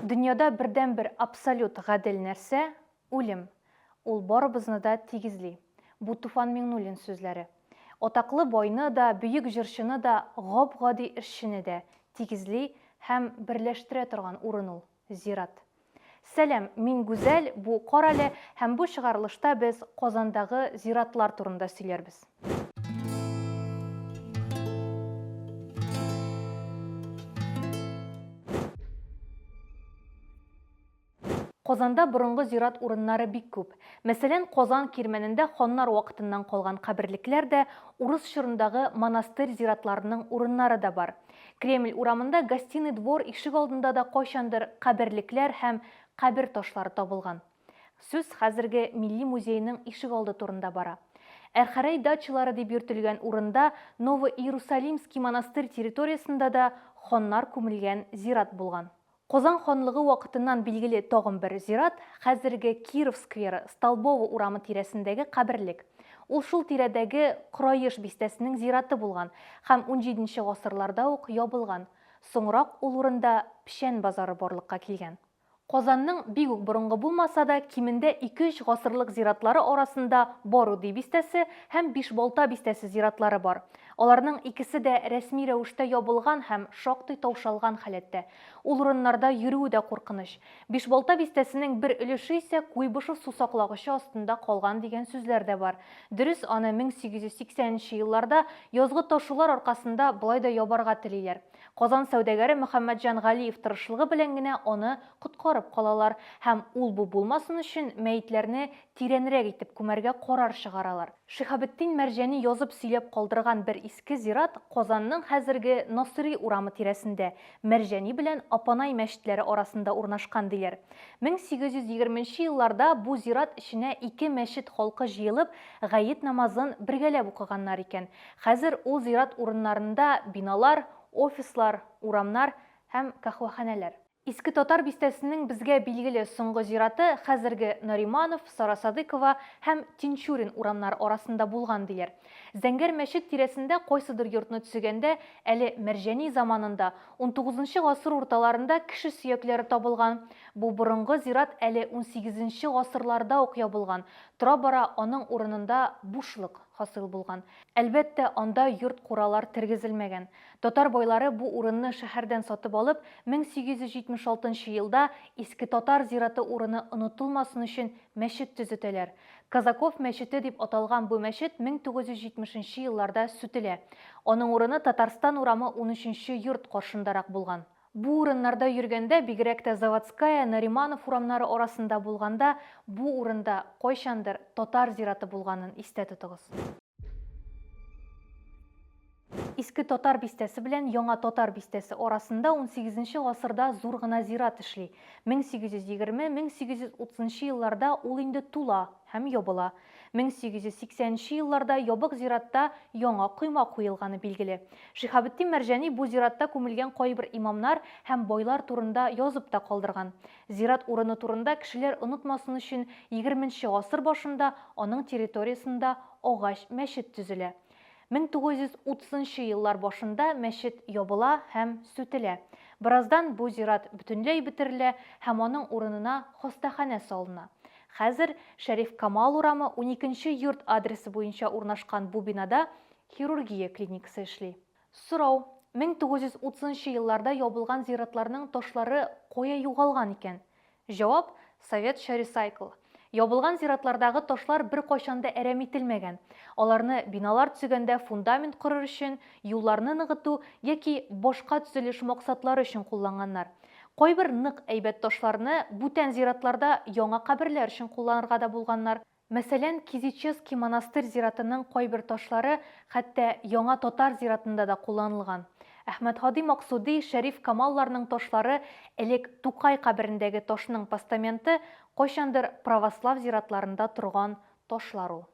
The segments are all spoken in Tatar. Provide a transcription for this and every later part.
Дөньяда бердәнбер абсолют гадел нәрсә, үлем. Ул барыбызны да тигезли. Бу Туфан Миңнуллин сүзләре. Атаклы байны да, бөек җырчыны да, гап-гади эшчене дә тигезли һәм берләштерә торган урын ул, зират. Сәлам, мин Гүзәл, бу Карале һәм бу чыгарылышта без Казандагы зиратлар турында сөйләрбез. Казанда борынгы зират урыннары бик күп. Мәсәлән, Казан кирмәнендә ханнар вакытыннан калган каберлекләр дә, урыс чорындагы монастырь зиратларының урыннары да бар. Кремль урамында Гостиный двор ишек алдында да кайчандыр каберлекләр һәм кабер ташлары табылган. Сүз хәзерге Милли музейның ишегалды турында бара. Әрхәрәй дачалары дип йөртелгән урында Ново-Иерусалимский монастырь территориясендә дә ханнар күмелгән зират булган. Казан ханлыгы вакытыннан билгеле тагын бер зират, хәзерге Киров скверы, Столбово урамы тирәсендәге каберлек. Ул шул тирәдәге Кораеш бистәсенең зираты булган һәм унҗиденче гасырларда ук ябылган. Соңрак ул урында печән базары барлыкка килгән. Казанның бик үк борынгы булмаса да, кимендә ике-өч гасырлык зиратлары арасында Баруди бистәсе һәм Бишбалта бистәсе зиратлары бар. Аларның икесе дә рәсми рәвештә ябылган һәм шактый таушалган халәттә. Ул урыннарда йөрүе дә куркыныч. Бишбалта бистәсенең бер өлеше исә Куйбышев сусаклагычы астында калган дигән сүзләр дә бар. Дөрес, аны 1880 нче елларда язгы ташулар аркасында болай да ябарга телиләр. Казан сәүдәгәре Мөхәммәтҗан Галиев тырышлыгы белән генә аны коткарып калалар һәм ул-бу булмасын өчен мәетләрне тирәнрәк итеп күмәргә карар чыгаралар. Шиһабетдин Мәрҗани язып сөйләп калдырган бер иске зират Казанның хәзерге Насыйри урамы тирәсендә, Мәрҗани белән Апанай мәчетләре арасында урнашкан, диләр. 1820 нче елларда бу зират эченә ике мәчет халкы җыелып, гает намазын бергәләп укыганнар икән. Хәзер ул зират урыннарында биналар, офислар, урамнар һәм каһвәханәләр. Иске Татар бистәсенең безгә билгеле соңгы зираты хәзерге Нариманов, Сарасадыкова һәм Тинчурин урамнары арасында булган, диләр. Зәңгәр мәчет тирәсендә кайсыдыр йортны төзегәндә әле Мәрҗани заманында, унтугызынчы гасыр урталарында кеше сөякләре табылган. Бу борынгы зират әле унсигезенче гасырларда ук ябылган, тора-бара аның урынында бушлык. хасил булган. Әлбәттә, анда йорт-куралар тергезелмәгән. Татар байлары бу урынны шәһәрдән сатып алып, 1876 нчы елда Иске Татар зираты урыны онытылмасын өчен мәчет төзетәләр. Казаков мәчете дип аталган бу мәчет 1970 нчы елларда сүтелә. Аның урыны Татарстан урамы унөченче йорт каршындарак булган. Бу урыннарда йөргәндә, бигрәк тә Заводская, Нариманов урамнары арасында булганда, бу урында, кайчандыр, татар зираты булганын истә тотыгыз. Иске Татар бистәсе белән Яңа Татар бистәсе арасында унсигезенче гасырда зур гына зират эшли. 1820-1830 елларда ул инде тула һәм ябыла. 1880 нче елларда ябык зиратта яңа койма куелганы билгеле. Шиһабетдин Мәрҗани бу зиратта күмелгән кайбер имамнар һәм байлар турында язып та калдырган. Зират урыны турында кешеләр онытмасын өчен, егерменче гасыр башында аның территориясендә агач мәчет төзелә. 1930 нчы еллар башында мәчет ябыла һәм сүтелә. Бераздан бу зират бөтенләй бетерелә һәм аның урынына хастаханә салына. Хәзер Шәриф Камал урамы, 12 нче йорт адресы буенча урнашкан бу бинада хирургия клиникасы эшли. Сорау, 1930 нчы елларда ябылган зиратларның ташлары кая югалган икән? Җавап, Советча ресайкл. Ябылган зиратлардагы ташлар беркайчан да әрәм ителмәгән. Аларны биналар төзегәндә фундамент корыр өчен, юлларны ныгыту яки башка төзелеш максатлары өчен кулланганнар. Кайбер нык әйбәт ташларны бүтән зиратларда яңа каберләр өчен кулланырга да булганнар. Мәсәлән, Кизичевский монастырь зиратының кайбер ташлары хәтта Яңа татар зиратында да кулланылган. Әхмәтһади Максуди, Шәриф Камалларның ташлары, элек Тукай каберендәге ташның постаменты, кайчандыр православ зиратларында торган ташлар ул.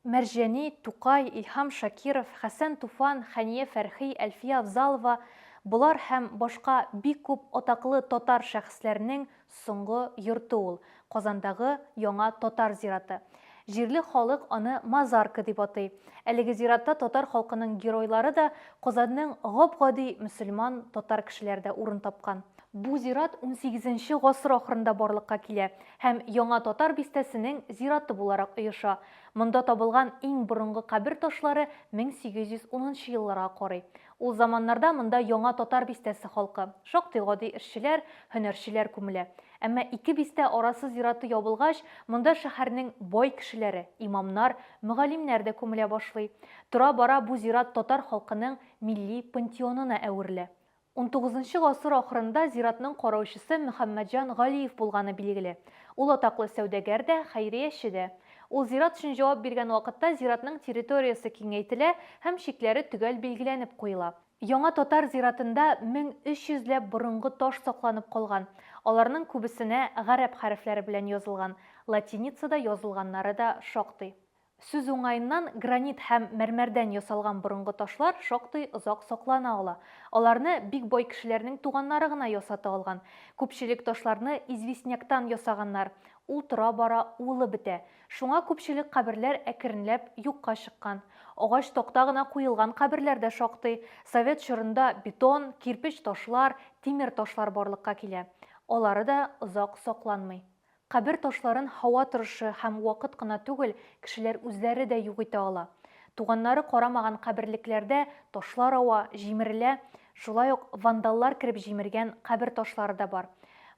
Мәрҗани, Тукай, Илһам Шакиров, Хәсән Туфан, Хәния Фәрхи, Әлфия Авзалова, болар һәм башка бик күп атаклы татар шәхесләренең Соңгы йорты ул, Казандагы Яңа татар зираты. Җирле халык аны Мазарка дип атый. Әлеге зиратта татар халкының геройлары да, Казанның гап-гади мөселман, татар кешеләре дә урын тапкан. Бу зират унсигезенче гасыр ахырында барлыкка килә һәм Яңа татар бистәсенең зираты буларак оеша. Монда табылган иң борынгы кабер ташлары мең сигез йөз унынчы елларга карый. Ул заманнарда монда Яңа Татар бистәсе халкы, шактый гади эшчеләр, һөнәрчеләр күмелә. Әмма ике бистә арасы зираты ябылгач, монда шәһәрнең бай кешеләре, имамнар, мөгаллимнәр дә күмелә башлый. Тора-бара бу зират татар халкының милли пантеонына әверелә. Унтугызынчы гасыр ахырында зиратның караучысы Мөхәммәтҗан Галиев булганы билгеле. Ул атаклы сәүдәгәр дә, хәйрияче дә. Ул зират өчен җавап биргән вакытта зиратның территориясе киңәйтелә һәм чикләре төгәл билгеләнеп куела. Яңа татар зиратында 1300 ләп борынгы таш сакланып калган, аларның күбесенә гарәп хәрефләре белән язылган, латиницада язылганнары да шактый. Сүз уңаеннан, гранит һәм мәрмәрдән ясалган борынгы ташлар шактый озак саклана ала. Аларны бик бай кешеләрнең туганнары гына ясата алган. Күпчелек ташларны известняктан ясаганнар, Ул тора-бара уылып бетә. Шуңа күпчелек каберләр әкренләп юкка чыккан. Агач такта гына куелган каберләр дә шактый. Совет чорында бетон, кирпеч ташлар, тимер ташлар барлыкка килә. Алары да озак сакланмый. Кабер ташларын һава торышы һәм вакыт кына түгел, кешеләр үзләре дә юк итә ала. Туганнары карамаган каберлекләрдә ташлар ава, җимерелә, Шулай ук вандаллар кереп җимергән кабер ташлары да бар.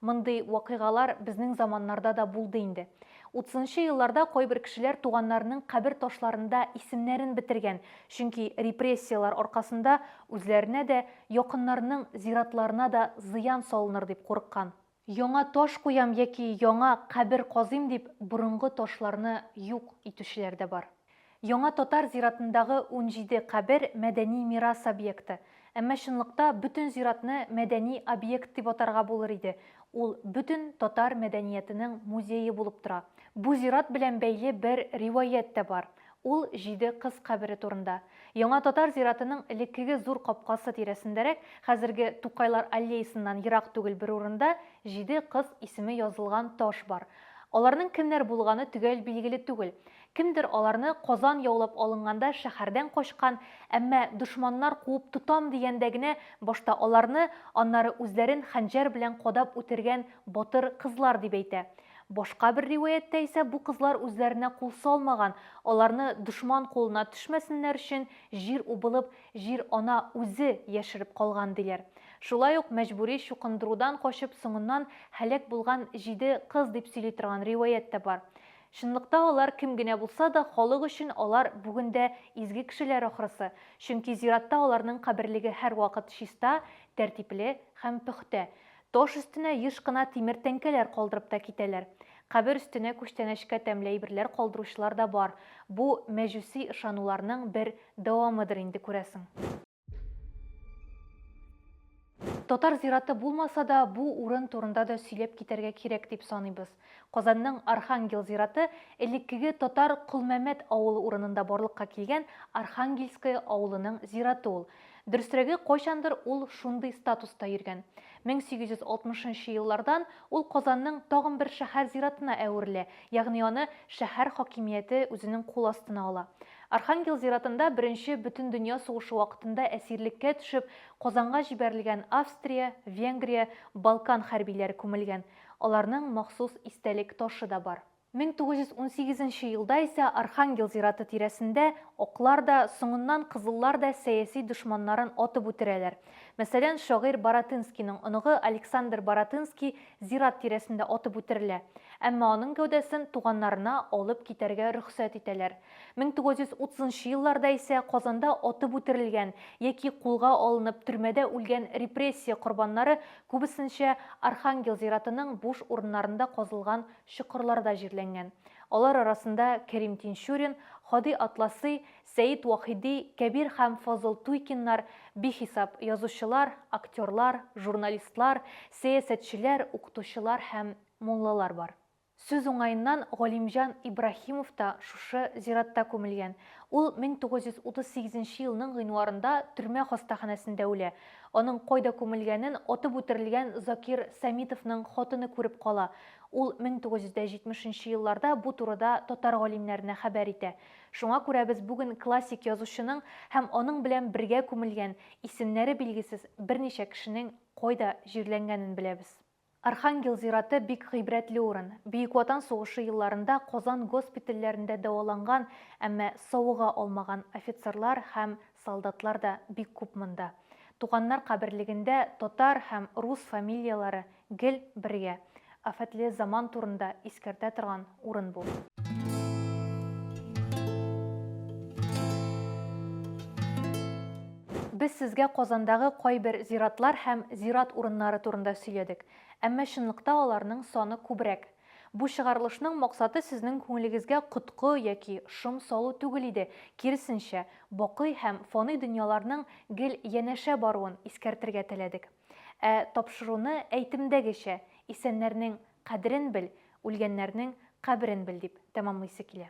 Мондый вакыйгалар безнең заманнарда да булды инде. Утызынчы елларда кайбер кешеләр туганнарының кабер ташларында исемнәрен бетергән, чөнки репрессияләр аркасында үзләренә дә, якыннарының зиратларына да зыян салыныр дип курыккан. Яңа таш куям яки яңа кабер казыйм дип борынгы ташларны юк итүчеләр дә бар. Яңа татар зиратындагы унҗиде кабер мәдәни мирас объекты. Әмма чынлыкта бөтен зиратны мәдәни объект дип атарга булыр иде, ул бөтен татар мәдәниятенең музее булып тора. Бу зират белән бәйле бер риваять тә бар. Ул җиде кыз кабере турында. Яңа татар зиратының элеккеге зур капкасы тирәсендәрәк, хәзерге Тукайлар аллеясыннан ерак түгел бер урында җиде кыз исеме язылган таш бар. Аларның кемнәр булганы төгәл билгеле түгел. Кемдер аларны Казан яулап алынганда шәһәрдән качкан, әмма дошманнар куып тотам дигәндә генә башта аларны, аннары үзләрен хәнҗәр белән кадап үтергән Батыр кызлар дип әйтә. Башка бер риваятьтә исә бу кызлар үзләренә кул салмаган, аларны дошман кулына төшмәсеннәр өчен җир убылып, җир-ана үзе яшереп калган, диләр. Шулай ук мәҗбүри чукындырудан качып соңыннан һәлак булган җиде кыз дип сөйли торган риваять тә бар. Чынлыкта алар кем генә булса да, халык өчен алар бүген дә изге кешеләр ахрысы, чөнки зиратта аларның каберлеге һәрвакыт чиста, тәртипле һәм пөхтә. Таш өстенә еш кына тимер тәңкәләр калдырып та китәләр. Кабер өстенә күчтәнәчкә тәмле әйберләр калдыручылар да бар. Бу, мәҗүси ышануларның бер дәвамыдыр инде, күрәсең. Татар зираты булмаса да, бу урын турында да сөйләп китәргә кирәк дип саныйбыз. Казанның Архангел зираты элеккеге татар Колмәмәт авылы урынында барлыкка килгән Архангельское авылының зираты ул. Дөресрәге, кайчандыр ул шундый статуста йөргән. 1860 нчы еллардан ул Казанның тагын бер шәһәр зиратына әверелә, ягъни аны шәһәр хакимияте үзенең кул астына ала. Архангел зиратында беренче Бөтендөнья сугышы вакытында әсирлеккә төшеп, Казанга җибәрелгән Австрия, Венгрия, Балкан хәрбиләре күмелгән. Аларның махсус истәлек ташы да бар. 1918 нче елда исә Архангел зираты тирәсендә аклар да, соңыннан кызыллар да сәяси дошманнарын атып үтерәләр. Мәсәлән, шагыйрь Баратынскийның оныгы Александр Баратынский зират тирәсендә атып үтерелә. Әмма аның гәүдәсен туганнарына алып китәргә рөхсәт итәләр. 1930 нчы елларда исә Казанда атып үтерелгән яки кулга алынып төрмәдә үлгән репрессия корбаннары Күбесенчә Архангел зиратының буш урыннарында казылган чокырларда җирләнгән. Алар арасында Кәрим Тинчурин, Һади Атласый, Сәет Вахиди, Кәбир һәм Фазыл Туйкиннар, бихисап язучылар, актерлар, журналистлар, сәясәтчеләр, укытучылар һәм муллалар бар. Сүз уңаеннан, Галимҗан Ибраһимов та шушы зиратта күмелгән. Ул 1938 нче елның гыйнварында төрмә хастаханәсендә үлә. Аның кайда күмелгәнен атып үтерелгән Закир Сәмитовның хатыны күреп кала. Ул 1970 нче елларда бу турыда татар галимнәренә хәбәр итә. Шуңа күрә без бүген классик язучының һәм аның белән бергә күмелгән, исемнәре билгесез берничә кешенең кайда җирләнгәнен беләбез. Архангел зираты бик гыйбрәтле урын. Бөек Ватан сугышы елларында Казан госпитальләрендә дәваланган, әмма савыга алмаган офицерлар һәм солдатлар да бик күп монда. Туганнар каберлегендә татар һәм рус фамилияләре гел бергә. Афәтле заман турында искәртә торган урын бу. Без сезгә Казандагы кайбер зиратлар һәм зират урыннары турында сөйләдек, әмма чынлыкта аларның саны күбрәк. Бу чыгарылышның максаты сезнең күңелегезгә коткы яки шом салу түгел иде, киресенчә, бакый һәм фаный дөньяларның гел янәшә баруын искәртергә теләдек. Ә тапшыруны әйтемдәгечә, исәннәрнең Кадерен бел, үлгәннәрнең каберен бел, дип тәмамлыйсы килә.